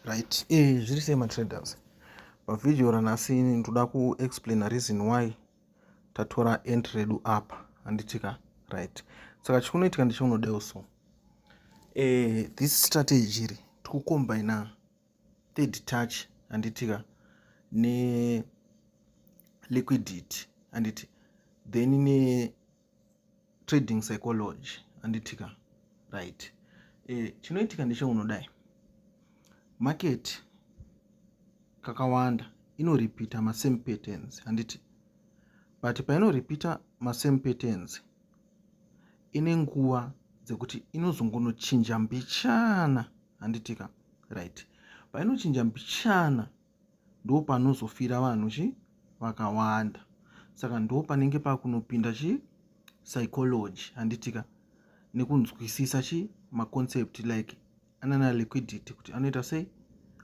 right eh zviri sei matraders pavhidhiyo ranhasi ndoda kuexplaina reason why tatora ent redu apa handitika right saka chikunoitika ndichaunodeo so eh this strategy iri tikukombaina third touch handitika ne liquidity handiti then ne trading psychology anditika right e, chinoitika ndecheunodai market kakawanda inoripita masame patterns handiti but painoripita masame patterns ine nguva dzekuti inozongonochinja mbichana handitika right painochinja mbichana ndo panozofira vanhu chi vakawanda saka ndo panenge pakunopinda chi psychology handitika nekunzwisisa chi maconcept like anana liquidity kuti anoita sei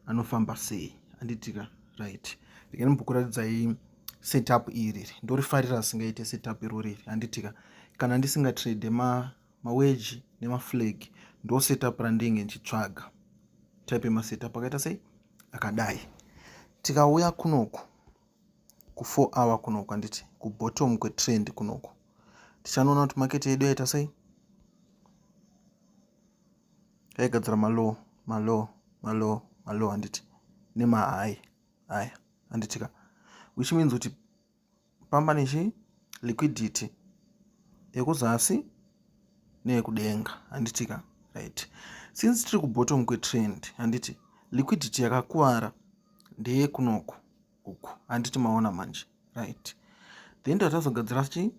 anofamba sei handitika right regai mbokuratidzai setup iri ndorifarira singaite setup irori iri handitika kana ndisingatrade ma maweji nemaflag ndo setup randenge ndichitsvaga type yemasetup akaita sei akadai tikauya kunoku kufour hour kunoku anditi kubottom kwetrend kunoku tichanoona kuti maketi yedu yaita sei yaigadzira malow malow malow malow handiti nemahai aya handitika which means kuti pamba nechi liquidity yekuzasi neyekudenga handiti ka right since tiri kubottom kwetrend handiti liquidity yakakuvara ndeyekunoko uku handiti maona manje right then tatazogadzira chi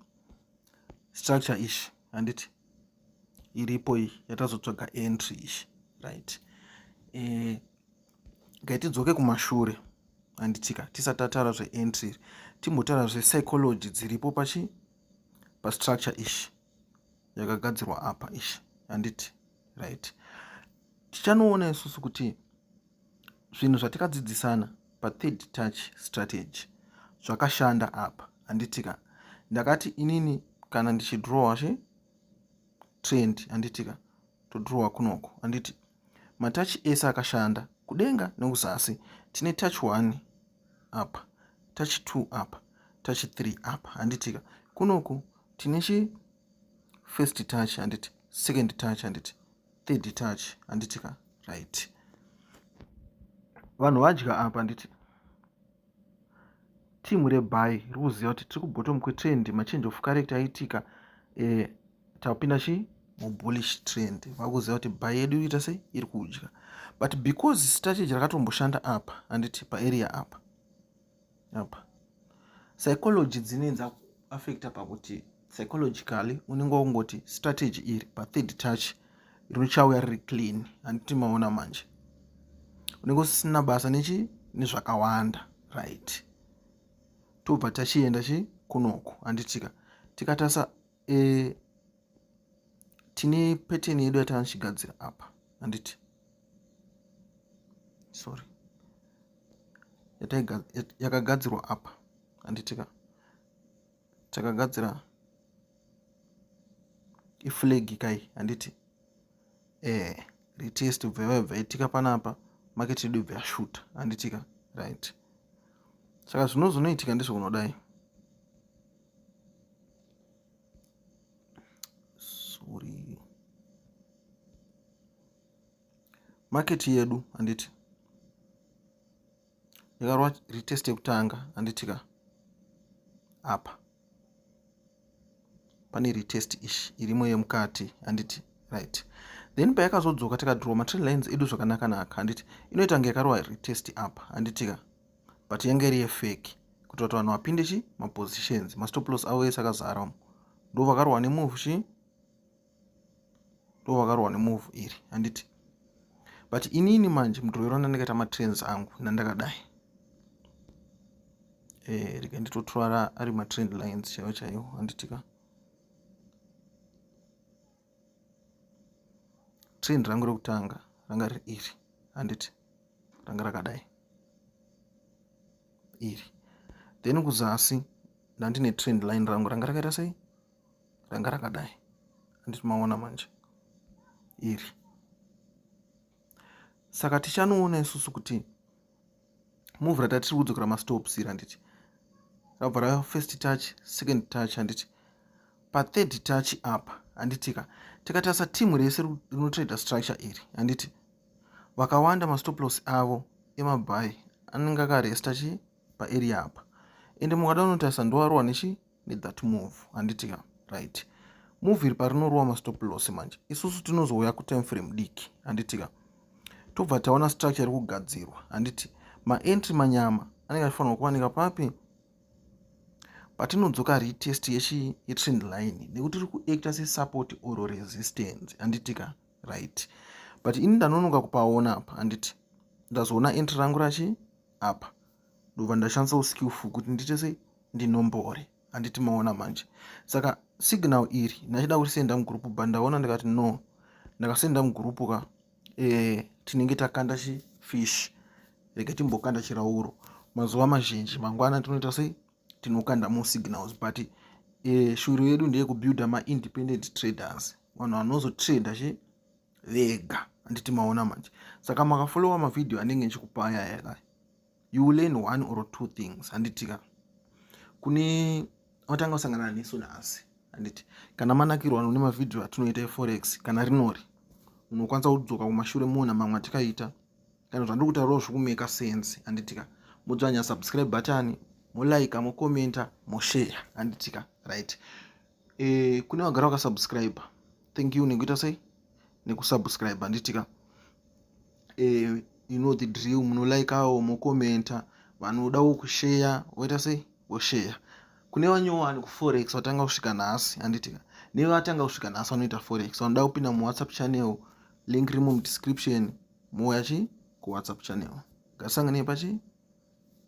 structure ishi handiti iripo iyi yatazotsvaga entry ishi right e, ngaitidzoke kumashure handitika tisati tataura zveentry timbotaura zvepsychology dziripo pachi pastructure ishi yakagadzirwa apa ishi handiti right tichanoona isusu kuti zvinhu zvatikadzidzisana pathird touch strategy zvakashanda apa handitika ndakati inini kana ndichidrowa zve trend handitika todrowa kunoko handiti matachi ese akashanda kudenga nekuzasi tine tachi 1 apa tachi 2 apa tachi 3 apa handitika kunoku tine chi first touch handiti second touch handiti third touch handitika right vanhu vadya apa handiti team rebuy riri kuziva kuti tiri kubottom kwetrend machange of character aiitika eh, tapinda chi mubullish trend vakuziva kuti buy yedu iriita sei iri kudya but because strategy rakatomboshanda apa anditi paarea apa apa psychology dzinenza affecta pakuti psychologically unenge wakungoti strategy iri pathird touch richauya riri clean handiti maona manje unenge usisina basa nechi nezvakawanda right tobva tachienda chi kunoku handitika tikatasa e, tine peteni yedu yatanochigadzira apa handiti sorry yakagadzirwa apa handitika takagadzira iflag kai handiti eh retest ubva yabva itika panapa market yedu ibva yashuta handitika right saka zvino zvinoitika ndizvo kunodai sorry market yedu handiti yakarwa retest yekutanga handiti ka apa pane retest ishi irimo yemukati handiti right then payakazodzoka tikadraw matree lines edu zvakanaka naka handiti inoita kunge yakarwa retest apa handiti ka but yange iri yefeki kuitira kuti vanhu vapinde chi mapositions mastoplos avo ese akazara umo ndo vakarwa nemove chi ndo vakarohwa nemove iri handiti but inini manje mudrovero ndandakaita matrans angu nandakadai e, eh, rika nditotora ari matrend lines chaiwo chaiwo handitika trend rangu rekutanga ranga riri iri handiti ranga rakadai iri then kuzasi ndandine trend line rangu ranga rakaita sei ranga rakadai anditi maona manje iri saka tichanoona isusu kuti muvhu ratatiri kudzokera mastops iri handiti rabva rava first touch second touch handiti pathird touch apa handitika tikatarisa timu rese rinotraida structure iri handiti vakawanda mastoplos avo emabhayi anenge akaresta chi paarea apa ende mukada unotarisa ndowarowa nechi with that move handiti ka right move iri parinorova mastop loss manje isusu tinozouya kutime frame diki handiti ka tobva taona structure iri kugadzirwa handiti maentry manyama anenge achifanirwa kuwanika papi patinodzoka retest yechi yetrend line nekuti iri kuacta sesupport or resistance handiti ka right but ini ndanonoka kupaona apa handiti ndazoona entry rangu rachi apa ndobva ndashandisa uskillful kuti ndiite sei ndinombore handiti maona manje saka signal iri ndachida kurisenda mugroup but ndaona ndikati no ndakasenda mugroup ka e, tinenge takanda chifish reke timbokanda chirauro mazuva mazhinji mangwana tinoita sei tinokanda more signals but e, shuri yedu ndeyekubuilder maindependent traders vanhu vanozotrader chi vega handiti maona manje saka makafollowa mavhidhiyo anenge ndichikupa aya yaka you will learn one or two things handitika kune watanga kusangana nesu nhasi handiti kana manakirwa none mavhidhiyo atinoita eforex kana rinori unokwanisa kudzoka kumashure moona mamwe atikaita kana zvandiri kutaurawo zvikumeka sense handitika modzvanya subscribe button molaika mokomenta moshare handitika right e, kune vagara vakasubscribe thank you nekuita sei nekusubscribe handitika e, eh, you know the drill munolaikawo mokomenta vanodawo kusheya voita sei vosheya kune vanyowani kuforex vatanga kusvika nhasi handitika nevatanga kusvika nhasi vanoita forex vanoda kupinda muwhatsapp channel link rimo mudescription mouya chi kuwhatsapp channel ngasanganei pachi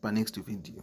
panext video